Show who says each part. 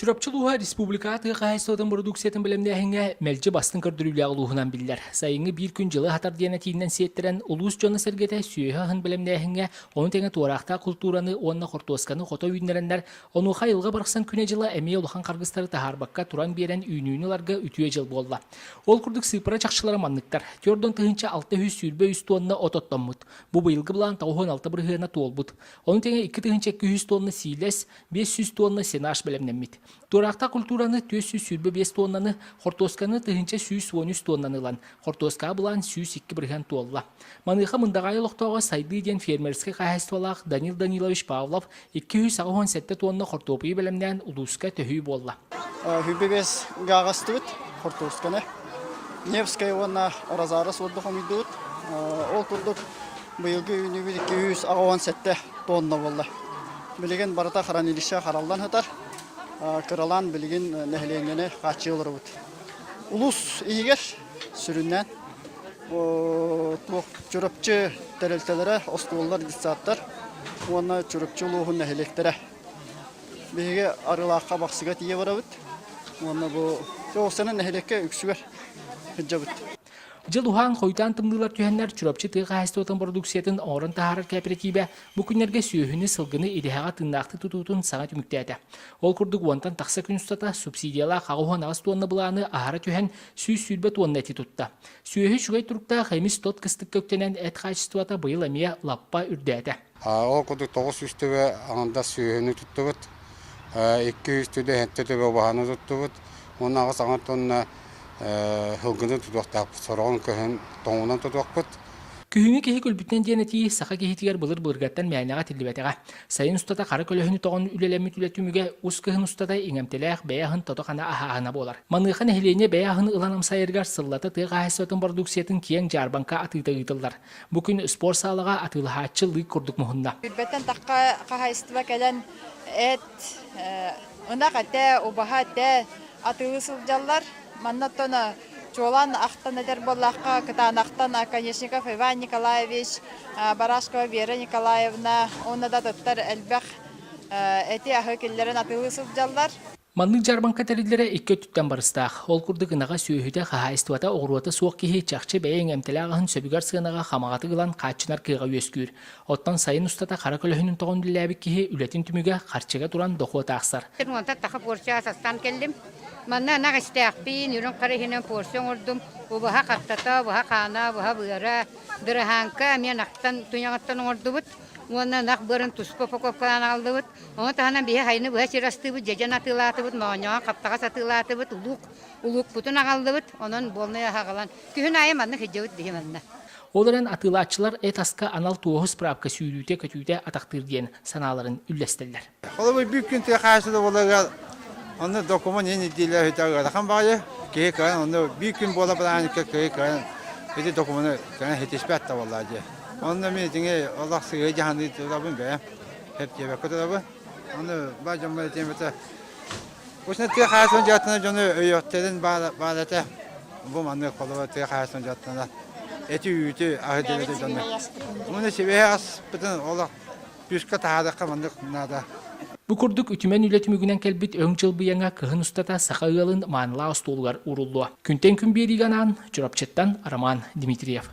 Speaker 1: Чурапчы улууһа республикаҕа тыа хаһаайыстыбатын бородууксуйатын бэлэмнээһиҥҥэ мэлдьи бастыҥ көрдөрүүлээх улууһунан биллэр. Сайыҥҥы биир күн дьылы хатар диэн этиинэн сиэттэрэн, улуус дьоно-сэргэтэ сүөһү аһын бэлэмнээһиҥҥэ, ону тэҥэ туораахтаах култуураны уонна хортуосканы хото үүннэрэннэр, онуоха айылҕа барахсан күнэ-дьыла эмиэ улахан харгыстары таһаарбакка туран биэрэн үүнүүнү ыларга үтүө дьыл буолла. Ол курдук сыыппара чахчылара манныктар. Түөрт он тыһыынча алта үс сүүрбэ үс туонна от оттоммут. Бу быйылгы былаан тоҕус уон алта бырыһыана туолбут. Ону тэҥэ икки тыһыынча икки үс туонна сиилэс, биэс сүүс туонна сенаж бэлэмнэммит. Туораахта культураны түөрт сүүс сүүрбэ биэс туоннаны, хортуосканы тыһыынча сүүс уон үс туоннаны ылан, хортуоскаҕа былаан сүүс икки бырыһыан туолла. Маныаха Мындаҕайы олохтооҕо Сайдыы диэн фермерскэй хаһаайыстыбалаах Данил Данилович Павлов икки сүүс аҕыс уон сэттэ туонна хортуопуйу бэлэмнээн улууска төһүү буолла. Бүбэбэс
Speaker 2: гаагастыбыт хортуосканы Невская уонна Розарес отдохомуйдубут. Ол курдук быйылгы үүнүүбүт 208 тонна буолла. Билигин барыта хранилище хараллан сытар, кыралаан билигин нэһилиэнньэни хааччыы олоробут. Улуус иһигэр сүрүннээн Чурапчы тэрилтэлэрэ, оскуолалар, детсадтар уонна Чурапчы улууһун нэһилиэктэрэ. Биһиги Арылаахха Бахсыга тиийэ барабыт уонна бу ол сэнэ нэһилиэккэ үксүгэр сылдьабыт. Дьыл
Speaker 1: уһаан хойутаан тымныылар түһэннэр Чурапчы тыа хаһаайыстыбатын бородууксуйатын оҥорон таһаарар кээпэрэтиибэ бу күннэргэ сүөһүнү, сылгыны идэһэҕэ тыыннаахтык тутуутун саҥа түмүктээтэ. Ол курдук уонтан тахса күн устата субсидиялаах аҕыс уон аҕыс туонна былааны аһара түһэн сүүс сүүрбэ туонна эти тутта. Сүөһү үчүгэй туруктаах эмис-тот кыстыкка үктэнэн эт хаачыстыбата быйыл эмиэ лаппа үрдээтэ. Ол курдук тоҕус
Speaker 3: үс төбө аҥардас сүөһүнү туттубут, икки үс төбө сэттэ төбө убаһаны туттубут уонна аҕыс аҥар тонна сылгыны тутуохтаахпыт, сороҕун көһөн тоҥунан тутуохпут. Күһүҥҥү киһи
Speaker 1: күлбүтүнэн диэн этии саха киһитигэр былыр былыргаттан мээнэҕэ тиллибэтэҕэ. Сайын устата хара көлөһүнү тоҕон үлэлэммит үлэ түмүгэ ус кыһын устата иҥэмтэлээх бэйэ аһын тото-хана аһаһана буолар. Маныаха нэһилиэнньэ бэйэ аһын ылан амсайарыгар сыллата тыа хаһаайыстыбатын бородууксуйатын киэҥ дьаарбаҥка атыыта ыытыллар. Бу күн спорт саалаҕа атыылаһааччы лыык курдук муһунна. Билбэттэн тахха
Speaker 4: хаһаайыстыба кэлэн эт, ынах этэ, убаһа этэ атыылыы сылдьаллар. Манна оттон чуолаан ахтан этэр буоллахха, кытаанахтан Оконешников Иван Николаевич, Барашкова Вера Николаевна уонна да туттар элбэх эти-аһы киллэрэн атыылыы сылдьаллар. Маннык дьарбаҥка
Speaker 1: тэриллэрэ икки өттүттэн барыстаах. Ол курдук ынаҕа, сүөһүтэ, хаһаайыстыбата, оҕуруота суох киһи чахчы бэйэ эҥэмтэлээх аһын сөбүгэр сыанаҕа хамаҕатык ылан хааччынар кыаҕа үөскүүр. Оттон сайын устата хара көлөһүнүн тоҕон үлэлээбит киһи үлэтин түмүгэ харчыга туран дохуот аахсар. Уонта таха порция
Speaker 5: састаан кэллим. Манна ынах истээхпин, үрүҥ хара иһинэн порция оҥордум. Убаһа хаттата, убаһа хаана, убаһа быара, быраһааҥка эмиэ ынахтан, туйаҕыттан оҥордубут. Уонна ынах быарын туспа упаковкалаан аҕаллыбыт. Ону таһынан биһи хайыны быһа сир астыыбыт, дьэдьэн атыылаатыбыт, моонньоҕон хаптаҕас атыылаатыбыт, улуук улуукпутун аҕаллыбыт, онон буолнай аһы аҕалан, күһүн аайы манна сылдьабыт биһи манна. Ол эрэн
Speaker 1: атыылааччылар эт-аска анал туоһу справка сүүрүүтэ-көтүүтэ атахтыыр диэн санааларын үллэстэллэр. Холобур, бүк күн
Speaker 6: тыа хаачыстыбаларыгар онно документ иһин ирдиилээһиттэ ыарахан баҕайы. Киһи кыһан онно биир күн буола бырааникка киһи кыһан ити документ кыһан ситиспэт табыллаа дии. Онно мин дьиҥи олох сыһыы дьаһаныы турабын бэйэм. кэптиэбэккэ турабы аны бар дьоҥҥо этиэмэтэ Кусна тыа хаасынан дьааттана дьону өйөттэрин баал этэ бу маннык холуба тыа хаасынан дьааттана эти үүтү аһыдырыты дьону Муну сибэһи аспытын олох пүскэ таһаадакка маннык наада Бу курдук
Speaker 1: үтүмэн үлэ түмүгүнэн кэлбит өҥ дьылбыйаҥа кыһын устата саха ыалын маанылаа остуолугар уруллуо. Күнтэн күн биэриигэ анаан Чурапчыттан Роман Дмитриев.